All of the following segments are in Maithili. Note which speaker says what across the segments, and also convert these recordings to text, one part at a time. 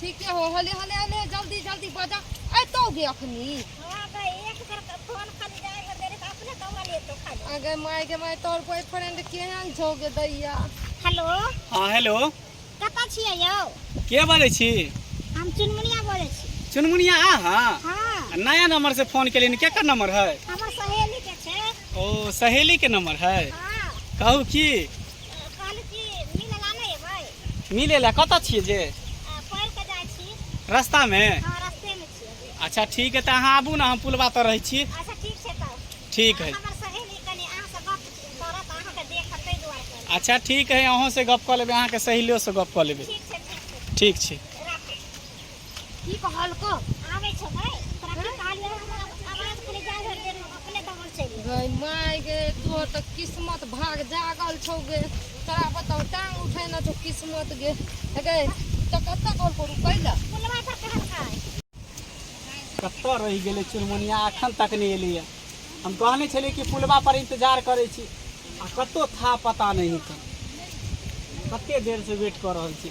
Speaker 1: ठीके हो हले हले हले जल्दी जल्दी बजा अतोगे अखनी हां भाई एक बार फोन खाली जाए कर देरे तो अपने कौवा ले तो खाली अगर माय के माय तोर बॉयफ्रेंड केहन छोगे दैया हेलो हां हेलो कता छियै यौ के बोले छी हम चुनमुनिया बोले छी चुनमुनिया आ हां हां नया नंबर से फोन केलिन के का नंबर है हमर सहेली के छे ओ सहेली के नंबर है हां कहू की मिले ला कत छिए जे रास्ता में हाँ, अच्छा ठीक है तो अहाँ आबू ना हम पुलवा तो रहे छी अच्छा, ठीक है अच्छा ठीक है अहूँ से गप कऽ लेबै अहाँके सहेलियोसँ गप कऽ लेबै ठीक छै की कहलको आबै छौ भाय तोरा की कहलियो हमरा आवाज करे जा घर दे अपने दौड़ चलि गई माय गे तोहर तऽ किस्मत भाग जागल छौ गे तोरा बताउ टांग उठेने छौ किस्मत गे गे तऽ कतऽ कॉल करू कैला पुलवा पर कहलका कतऽ रहि गेलै चुनमुनिया एखन तक नहि एलैए हम कहने छलियै कि पुलवा पर इंतजार करै छी आ कतौ था पता नहि हेतै कते देर से वेट कऽ रहल छी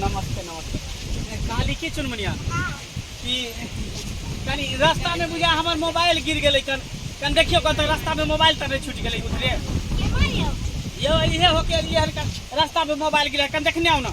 Speaker 1: नमस्ते नमस्ते काली की चुनमुनिया कि कनी रास्ता में बुझा हमर मोबाइल गिर गेलै कन कन देखियो कत रास्ता में मोबाइल तब छूट गेलै उतरे यो इहे होके लिए हल्का रास्ता में मोबाइल गिरा कन देखने हो ना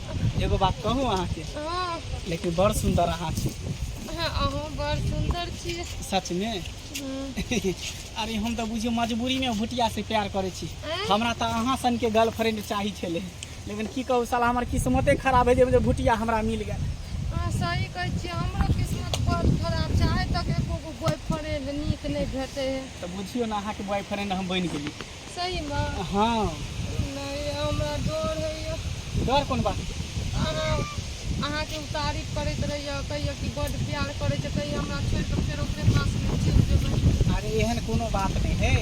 Speaker 1: एगो बात कहू अहाँके हाँ लेकिन बड़ सुंदर अहाँ छी हाँ, अहूँ बड़ सुंदर छियै सच में हम्म, अरे हम तऽ बुझियौ मजबूरी में भुटिया से प्यार करै छी आँय? हमरा तऽ अहाँ सन के गर्लफ्रेंड चाही छलै लेकिन की कहू साला हमर किस्मते खराब है जे जे भुटिया हमरा मिल गेल हाँ, सही कहै छियै हमरो किस्मत बड़ खराब छै आइ तक एको गो बॉयफ्रेंड नीक नहि भेटै है तऽ बुझियौ ने अहाँके बॉयफ्रेंड हम बनि गेली सही में हाँ नहीं हमरा डर होइए डर कोन बात अहाँ अहाँके तारीफ करैत रहैए कहियो कि बड प्यार करै छै कहियो हमरा छोड़ के फेर ओकरे पास में चल जेबै अरे एहन कोनो बात नहीं है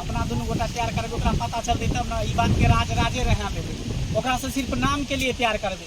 Speaker 1: अपना दोनों गोटा प्यार करबे ओकरा पता चलते तब ना ई बात के राज राजे रहना देबे ओकरा से सिर्फ नाम के लिए प्यार करबे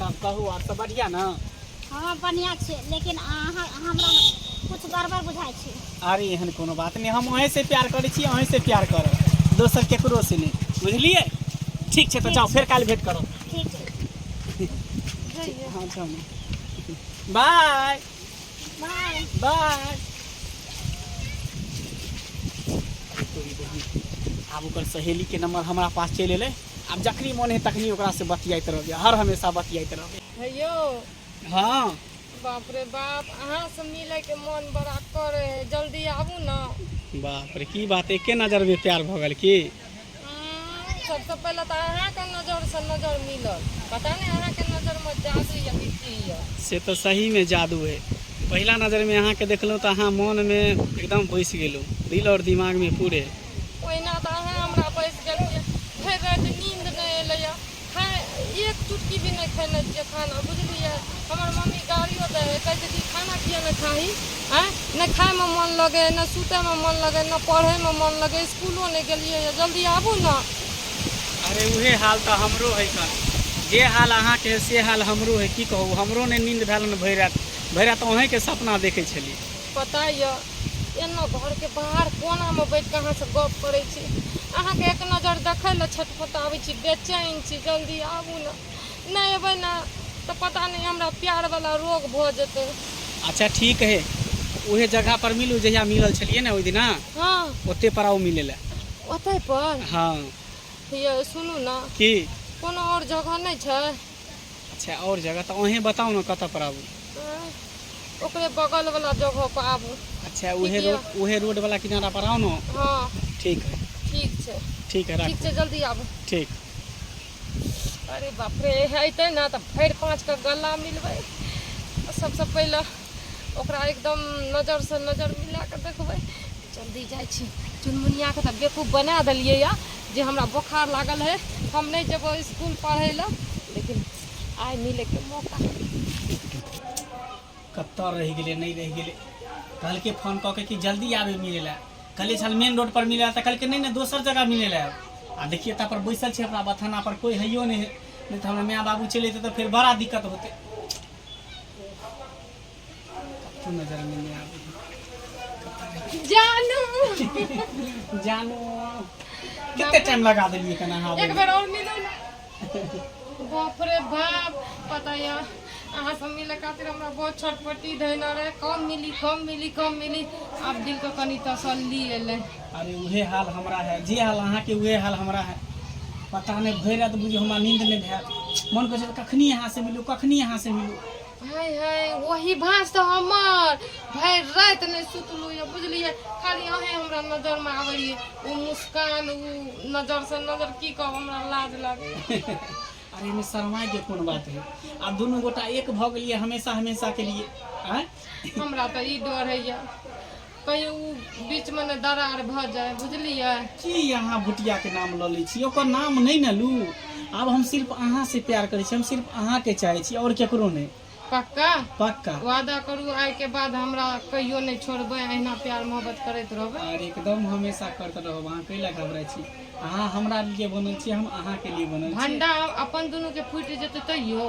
Speaker 1: तब कहू आओर सब बढ़िया ना हाँ बढ़िया छै लेकिन अहाँ हमरा कुछ गड़बड़ बुझाय छै अरे एहन कोनो बात नहीं हम अहें से प्यार करे छी अहें से प्यार करब दोसर केकरो से नहीं बुझलिए ठीक छै तो जाओ फिर काल भेंट करो ठीक छै हाँ जाओ बाय बाय बाय आब ओकर सहेली के नंबर हमारा पास चल एलै आब जखनी मन है तखनी ओकरा से बतियात रहबे हर हमेशा बतियात रहबे हे यौ हाँ बाप रे बाप अहाँ से मिले के मन बड़ा करे है जल्दी आबू ना बाप रे की बात एके नजर में प्यार भ गेल की हम्म, सबसे पहले तो अहाँ के नजर से नजर मिलल पता नहीं अहाँ के नजर में जादू या कि की है से तो सही में जादू है पहला नजर में अहाँ के देखलहुँ तो अहाँ मन में एकदम बैस गेलहुँ दिल और दिमाग में पूरे ओहिना तऽ अहाँ हमरा बैस गेलियै भरि राति नींद नहि एलैए खाय एक चुटकी भी नहि खेने छियै खाना बुझलियै हमर मम्मी गाड़ियो दै कहै छै कि खाना किए नहि खाही आँय नहि खायमे मोन लगै नहि सुतयमे मोन लगै नहि पढ़यमे मोन लगै इसकुलो नहि गेलियै जल्दी आबू ने अरे उहे हाल तऽ हमरो है कन जे हाल अहाँके है से हाल हमरो है की कहू हमरो नहि नींद भेल ने भरि राति भरि राति अहेंके सपना देखै छलियै पता यऽ एना घरके बाहर कोनामे बैठ कऽ अहाँ सब गप करै छी अहाँके एक नजर देखै लए छटपटाबै छी बेचैन छी जल्दी आबू ने नहि एबै ने तऽ पता नहि हमरा प्यार वाला रोग भऽ जेतै अच्छा ठीक है उहे जगह पर मिलू जहिया मिलल छलियै ने ओहि दिना हँ ओते पर आओ मिले लए ओतै पर हँ ये सुनू ने की कोनो आओर जगह नहि छै अच्छा और जगह तो अहें बताओ ना कत पर आबू ओकरे बगल वाला जगह पर आबू अच्छा उहे रोड उहे रोड वाला किनारा पर आओ ना हाँ ठीक है ठीक छै ठीक है ठीक छै जल्दी आबू ठीक अरे बाप रे अतै ना तो भरि पाँच के गला मिलबै सबसे पहले ओकरा एकदम नजरसँ नजर मिला कऽ देखबै जल्दी जाइ छी चुनमुनियाके तऽ बेकूफ बना देलियै यऽ जे हमरा बोखार लागल है हम नहि जेबो इसकुल पढ़ै लए लेकिन आइ मिलैके मौका कतऽ रहि गेलै नहि रहि गेलै कहलकै फोन कऽ के कि जल्दी आबे मिलै लए कहलियै छल मेन रोड पर मिलै तऽ कहलकै नहि नहि दोसर जगह मिलै लए आ देखियै ता पर बैसल छै हमरा बथाना पर कोइ हैयो नहि है नहि तऽ हमरा माय बाबू चलि अयतै तऽ फेर बड़ा दिक्कत होतै कतहु नजर में नहीं आवे जानू जानो कितने टाइम लगा दिलिए कना हाँ एक बेर और मिलो ना बाप रे बाप पता या अहाँ सब मिले खातिर हमरा बहुत छटपटी धैले रहे कम मिली कम मिली कम मिली आब दिल के कनी तसल्ली एलै अरे उहे हाल हमरा है जे हाल अहाँके उहे हाल हमरा है पता नहि भरि राति बुझियौ हमरा नींद नहि भेल मन करै छै कखनी अहाँ से मिलू कखनी अहाँ से मिलू हाय हाय वही भाँज तऽ हमर भरि राति नहि सुतलू यऽ बुझलियै खाली अहे हमरा नजर मे आबैये ओ मुस्कान ओ नजर से नजर की कहब हमरा लाज लागैए अरे एहिमे शर्माय के कोन बात है आ दुनू गोटा एक भऽ गेलियै हमेशा हमेशा के लिए आँय हमरा तऽ ई डर होइए कहियो ओ बीचमे ने दरार भऽ जाय बुझलियै की अहाँ बुटियाके नाम लऽ लै छी ओकर नाम नहि ने लू आब हम सिर्फ अहाँसँ प्यार करै छी हम सिर्फ अहाँके चाहै छी आओर केकरो नहि पक्का पक्का वादा करू आइ के बाद हमरा कहियो नहि छोड़बै अहिना प्यार मोहब्बत करैत रहबै आर एकदम हमेशा करते रहब अहाँ कैला घबराइ छी अहाँ हमरा लिए बनल छी हम अहाँके लिए बनल छी भंडा अपन दुनू के फूटि जेतै तैयो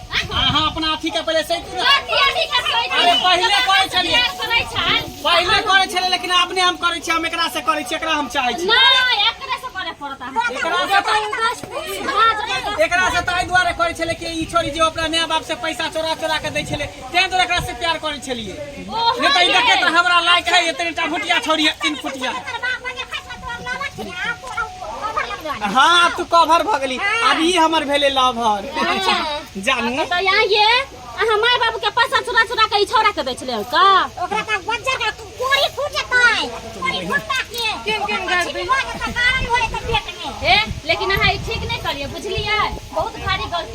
Speaker 1: अहाँ अपना अथी के पहिले सही करू अरे पहिले करै छलिए पहिले करै छलिए लेकिन अपने हम करै छी हम एकरा से करै छी एकरा हम चाहै छी नहि एकरे से करे पड़त अहाँ एकरा से ताहि दुआरे करै छले कि ई छोरी जे ओकरा माय बाप से पैसा चोरा चोरा के दै छले तें दुआरे एकरा से प्यार करै छलिए ओ, नहि तऽ ई देखैत हमरा लायक है एतने टा भुटिया छोरी है तीन फुटिया हाँ अब तू कवर भ गेली अब ई हमर भेले लवर जानू तो यहाँ ये आ हमारे बाबू के पैसा चुरा चुरा के ई छोरा के बेच ले का ओकरा का बच्चा का कोरी फूट जातै कोरी फूटता के किन किन कर दी कारण होय त पेट में ए लेकिन अहाँ ई ठीक नहीं करिए बुझलिए बहुत भारी गलती